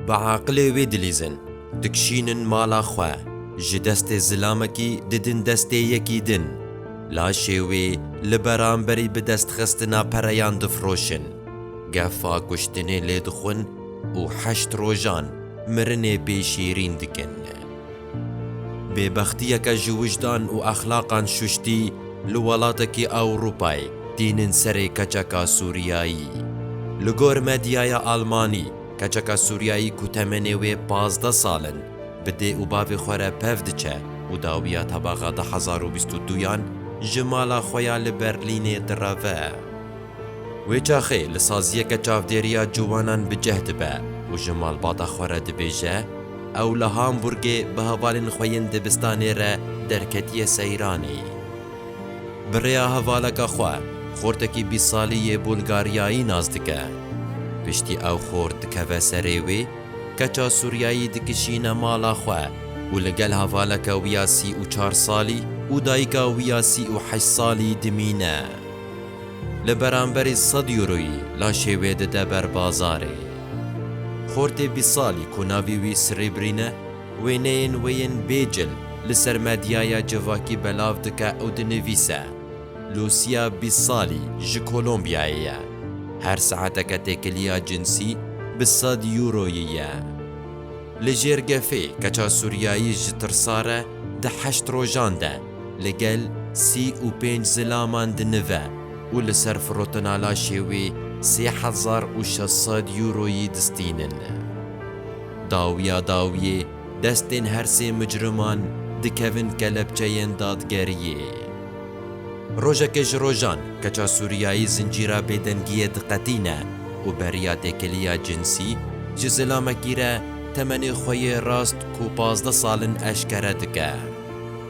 Bi aqilê wê dilîzin, dikişînin mala xwe, ji destê zilamekî didin destê yekî din, laşê wê li beramberî bi destxistina pereyan difiroşin, gefa kuştinê lê dixwin û heşt rojan mirinê pê şîrîn dikin. Bêbextiyeke ji wijdan û exlaqan şuştî li welatekî Ewropayê tînin serê keçeka Sûriyayî. Li gor medyaya Almanî, keçeka Sûriyayî ku temenê wê pazdeh sal in, bi dê û bavê xwe re pev diçe û dawiya tebaxa du hezar û bîst û duyan ji mala xwe ya li Berlînê direve. Wê çaxê li saziyeke çavdêriya ciwanan bi cih dibe û ji malbata xwe re dibêje, Ew li Hamburgê bi hevalên xwe yên dibistanê re derketiye seyranî. Bi rêya hevaleka xwe, xortekî bîst salî yê Bulgaryayî nas dike. Piştî ew xort dikeve serê wê, keça Sûriyayî dikişîne mala xwe û li gel hevaleke wî ya sî û çar salî û dayika wî ya sî û heşt salî dimîne. Li beramberî sed euroyî laşê wê dide ber bazarê. Xortê bîst salî ku navî wî Sribrîn e, wêneyên wê yên bê cil li ser medyaya civakî belav dike û dinivîse, Lucia bîst salî ji Kolombiyayê ye. Her saeteke têkiliya cinsî bi sed euroyî ye. Li jêr gefê keça Sûriyayî ji tirsa re di heşt rojan de li gel sî û pênc zilaman dinive û li ser firotenalaşê wê sê hezar û şeş sed Euroyî distînin. Dawiya dawiyê destên her sê micriman dikevin kelepçeyên dadgeriyê. Rojekê ji rojan keça Sûriyayî zincîra bêdengiyê diqetîne û beriya têkiliya cinsî ji zilamekî re temenê xwe yê rast ku pazdeh sal in eşkere dike.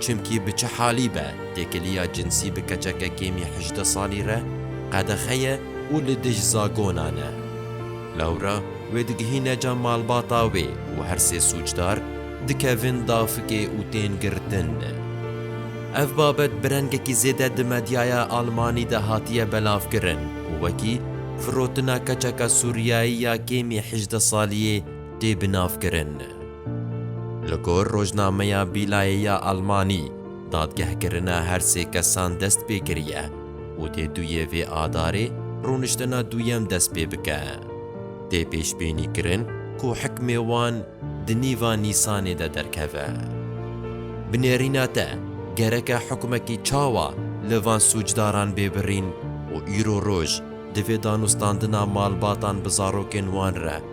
Çimkî bi çi halî be têkiliya cinsî bi keçeke kêmî hejdeh salî re qedexe ye û li dij zagonan e. Lewra wê digihîne ca malbata wê û her sê sûcdar dikevin dafikê û tên girtin. Ev babet bi rengekî zêde di medyaya Almanî de hatiye belavkirin û wekî firotina keçeka Sûriyayî ya kêmî hejdeh saliyê tê binavkirin. Li gor rojnameya Bîlayê ya Almanî, dadgehkirina her sê kesan dest pê kiriye û dê du yê vê adarê rûniştina duyem dest pê bike. Tê pêşbînî kirin ku hikmê wan di nîva Nîsanê de derkeve. Bi nêrîna te gereke hukmekî çawa li van sûcdaran bê birîn û îro roj divê danûstandina malbatan bi zarokên wan re